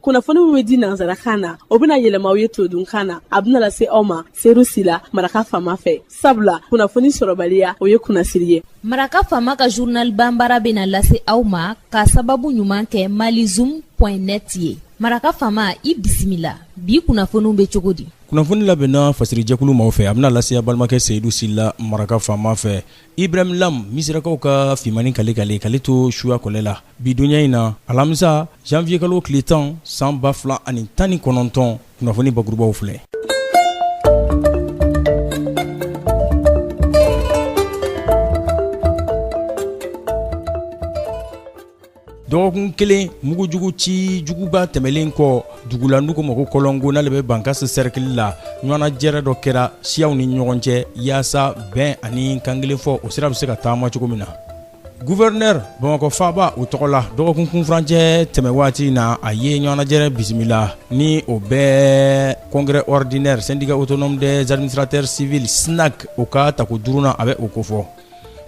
kunnafoni min bɛ di nanzarakan na o bɛna yɛlɛma aw ye todunkan na a bɛna lase aw ma seyidu sila maraka faama fɛ sabula kunnafoni sɔrɔbaliya o ye kunnasiri ye maraka faama ka journal banbaara bɛna lase aw ma ka sababu ɲuman kɛ malizoom point net ye maraka faama i bisimila bi kunnafoniw bɛ cogo di kunnafoni labɛnna fasirijɛkulu maaw fɛ a bɛna lase aw balimakɛ seyidu sila maraka faama fɛ Ibrahim lam misirakaw ka fimani kale ka kale to suya kɔlɛ la bi donya in na alamisa janvier kalo tile tan san ba fila ani tan ni kɔnɔntɔn kunnafoni bakurubaw filɛ dɔgɔkun kelen mugujugu ci juguba tɛmɛlen kɔ dugu la n'u ko ma ko kɔlɔnko n'ale bɛ bankasi sɛrikili la ɲɔgɔnnajɛrɛ dɔ kɛra siyaw ni ɲɔgɔn cɛ yaasa bɛn ani kankelen fɔ o sira bɛ se ka taama cogo min na guvɛrinɛri bamakɔ faaba o tɔgɔ la dɔgɔkun kunfurancɛ tɛmɛ waati na a ye ɲɔgɔnnajɛrɛ bisimila ni o bɛ congrès ordinaire syndicat autonome des administrateurs civils synac o ka tako duurunan a bɛ o kofɔ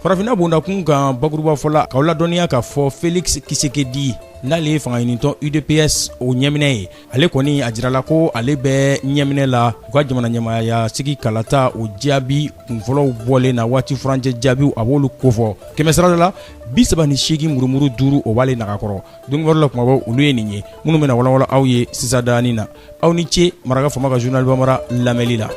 farafinna bondakun kan bakuruba fɔ la k'aw ladɔnniya k'a fɔ felix tshisekedi n'ale ye fangaɲinitɔn udps o ɲɛminɛ ye ale kɔni a jirala ko ale bɛ ɲɛminɛ la u ka jamana ɲɛmaaya sigi kalata o jaabi kunfɔlɔw bɔlen na waati furancɛ jaabiw a b'olu kofɔ kɛmɛsirada la bi saba ni seegin murumuru duuru o b'ale nagakɔrɔ donkibaru la kumabaw olu ye nin ye minnu bɛna walawala aw ye sisan daani na aw ni ce maraka faama ka journal bamara lamɛnni la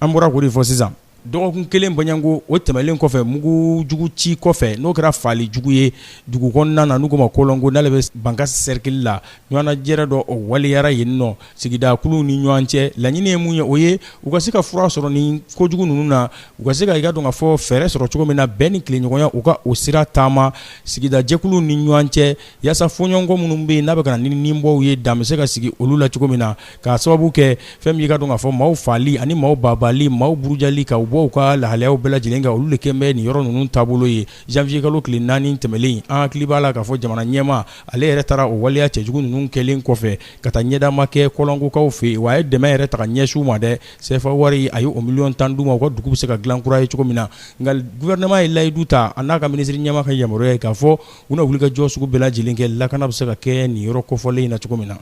an bɔra k'o de fɔ sisan dɔgɔkun kelen baɲanko o tɛmɛlen kɔfɛ mugu jugu ci kɔfɛ n'o kɛra faali jugu ye dugu kɔnɔna na n'u ko ma kɔlɔnko n'ale bɛ bankasi sɛrikili la ɲɔgɔnnajɛrɛ dɔ o waleyara yen nɔ sigidakuluw ni ɲɔgɔn cɛ laɲini ye mun ye o ye u ka se ka fura sɔrɔ nin kojugu ninnu na u ka se ka i ka dɔn ka fɔ fɛɛrɛ sɔrɔ cogo min na bɛn ni tilenɲɔgɔnya u ka o sira taama sigidajɛkuluw ni ɲɔgɔn cɛ yaasa fɔɲɔgɔnkɔ minnu bɛ yen n'a bɛ ka na ni ninbɔw ye dan bɛ se ka sigi olu la cogo min na k'a sababu kɛ fɛn min y'i ka dɔn ka fɔ maaw faali ani maaw baabaali maaw burujali ka u bɔ u ka lahalayaw bɛɛ lajɛlen kan olu de kɛlen bɛ nin yɔrɔ ninnu taabolo ye janvier kalo tile naani tɛmɛlen an hakili b'a la k'a fɔ jamana ɲɛmaa ale yɛrɛ taara o waleya cɛjugu ninnu kɛlen kɔfɛ ka taa ɲɛdama kɛ kɔlɔnkokaw fɛ yen wa a ye dɛmɛ yɛrɛ ta ka ɲɛsin u ma dɛ sefa wari a ye o miliyɔn tan d'u ma u ka dugu bɛ se ka dilan kura ye cogo min na nka gouvernement ye layidu ta a n'a ka minisiri ɲɛmaa ka yamaruya ye k'a fɔ u na wulikajɔ sugu bɛɛ lajɛlen kɛ lakana bɛ se ka kɛ nin yɔrɔ kɔfɔlen in na cogo min na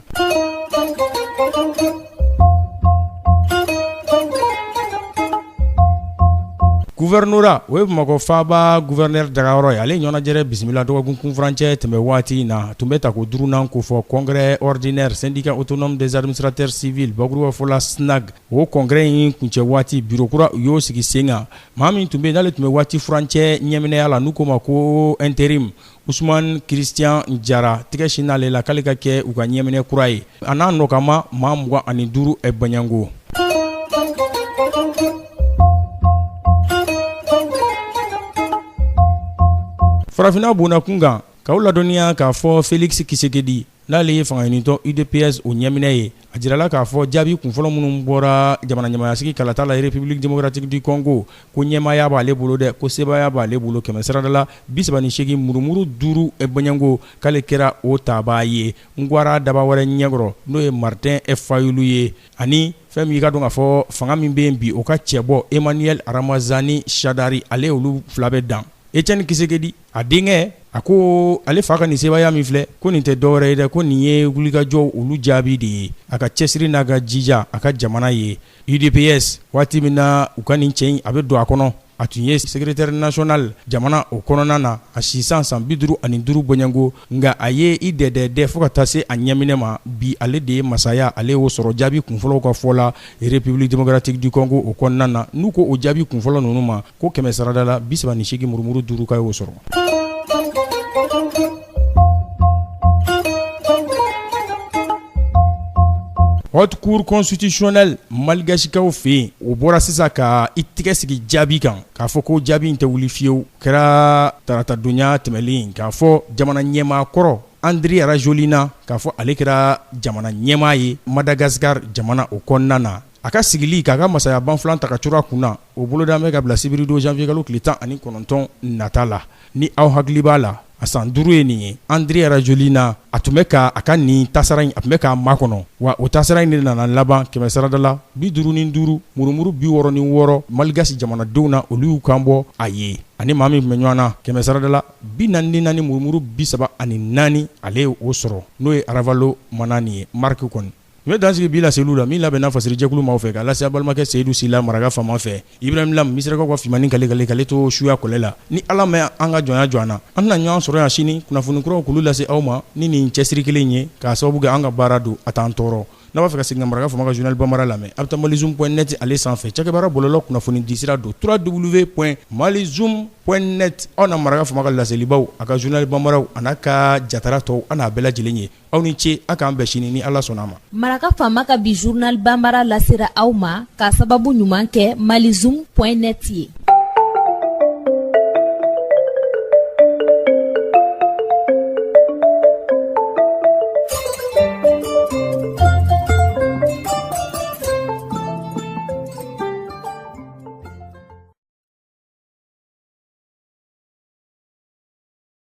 Gouvernorat o ye Bamakɔ faaba gouverneur dagayɔrɔ ye ale ɲɔgɔnnajɛrɛ bisimila dɔgɔkun kunfurancɛ tɛmɛn waati in na, a tun bɛ tako duurunan kofɔ congrès ordinaire syndicat autonome des administrateurs civils bakuruba fɔ la SYNAC, o congrès in kuncɛ waati bureau kura u y'o sigi sen kan, maa min tun bɛ yen n'ale tun bɛ waati furancɛ ɲɛminɛya la n'u k'o ma ko interim Ousmane Christian Jara tɛgɛ sinna ale la k'ale ka kɛ u ka ɲɛminɛ kura ye a n'a nɔkanmaa maa mugan ani duuru bɔɲɔgɔnko farafinna bondakun kan k'aw ladɔnniya k'a fɔ Félix Tshisekedi N'ale ye fanga ɲinitɔn UDPS o ɲɛminɛ ye, a jirala k'a fɔ jaabi kunfɔlɔ minnu bɔra jamana ɲɛmaayasigi kalata la République démocratique du Congo ko ɲɛmaaya b'ale bolo dɛ, ko sebaaya b'ale bolo kɛmɛ sarada la 38 murumuru duuru bɔɲɔgɔnko, k'ale kɛra o tabaa ye Ngwara daba wɛrɛ ɲɛkɔrɔ, n'o ye Martin Fayulu ye ani fɛn min i ka dɔn k'a fɔ fanga min bɛ yen bi, o ka cɛbɔ Emmanuel Ramazani Shadary, ale olu fila bɛ dan Etienne Tshisekedi. a denkɛ a ko ale fa ka nin sebaaya min filɛ ko nin tɛ dɔwɛrɛ ye dɛ ko nin ye wulikajɔ olu jaabi de ye a ka cɛsiri n'a ka jija a ka jamana ye UDPS waati min na u ka nin cɛ in a bɛ don a kɔnɔ a tun ye secrétaire national jamana o kɔnɔna na a sisan san bi duuru ani duuru bɔɲɔgɔnko nka a ye i dɛdɛ dɛ fo ka taa se a ɲɛminɛ ma bi ale de ye masaya ale o sɔrɔ jaabi kunfɔlɔw ka fɔ la République démocratique du Congo o kɔnɔna na n'u ko o jaabi kunfɔlɔ ninnu ma ko kɛmɛ sarada la bi saba ni seegin murumuru duuru k'a y'o sɔrɔ haute cour constitutionnelle malgasikaw fɛ yen o bɔra sisan ka i tɛgɛ sigi jaabi kan k'a fɔ ko jaabi in tɛ wuli fiyewu kɛra taratadonya tɛmɛlen k'a fɔ jamana ɲɛmaa kɔrɔ Andry Rajoelina k'a fɔ ale kɛra jamana ɲɛmaa ye Madagascar jamana o kɔnɔna na a ka sigili k'a ka masaya banfula ta ka curu a kun na O boloda bɛ ka bila sibiridon janvier kalo tile tan ani kɔnɔntɔn nata la ni aw hakili b'a la a san duuru ye nin ye Andry Rajoelina a tun bɛ k' a ka nin tasara in a tun bɛ k'a makɔnɔ wa o tasara in de nana laban kɛmɛ sarada la bi duuru ni duuru murumuru bi wɔɔrɔ ni wɔɔrɔ malgasi jamanadenw na olu y'u kan bɔ a ye ani maa min tun bɛ ɲɔgɔn na kɛmɛ sarada la bi naani ni naani murumuru bi saba ani naani ale ye o sɔrɔ n'o ye Ravalomanana ye Marc kɔni N bɛ dansigi bi laseli olu la min labɛnna fasiri jɛkulu maaw fɛ k'a lase aw balimakɛ Seyidu Sila maraka faama fɛ Ibrahim Lam misirakaw ka fimanini kalekan ale to suya kɔlɛ la ni ala ma an ka jɔnya jɔ an na an na ɲɔgɔn sɔrɔ yan sini kunnafoni kuraw k'olu lase aw ma ni nin cɛsiri kelen ye k'a sababu kɛ an ka baara don a t'an tɔɔrɔ n'a b'a fɛ ka segin maraka faama ka journal bambara lamɛn a bɛ taa malizoom point net ale sanfɛ cakɛbaara bɔlɔlɔ kunnafoni disira don trois w point malizoom point net aw na maraka faama ka laselibaw a ka journal bambara a n'a ka jatara tɔw an n'a bɛɛ lajɛlen ye aw ni ce a k'an bɛn sini ni ala sɔnna a ma maraka faama ka bi zurunali banbara lasera aw ma k'a sababu ɲuman kɛ malizum pɔn net ye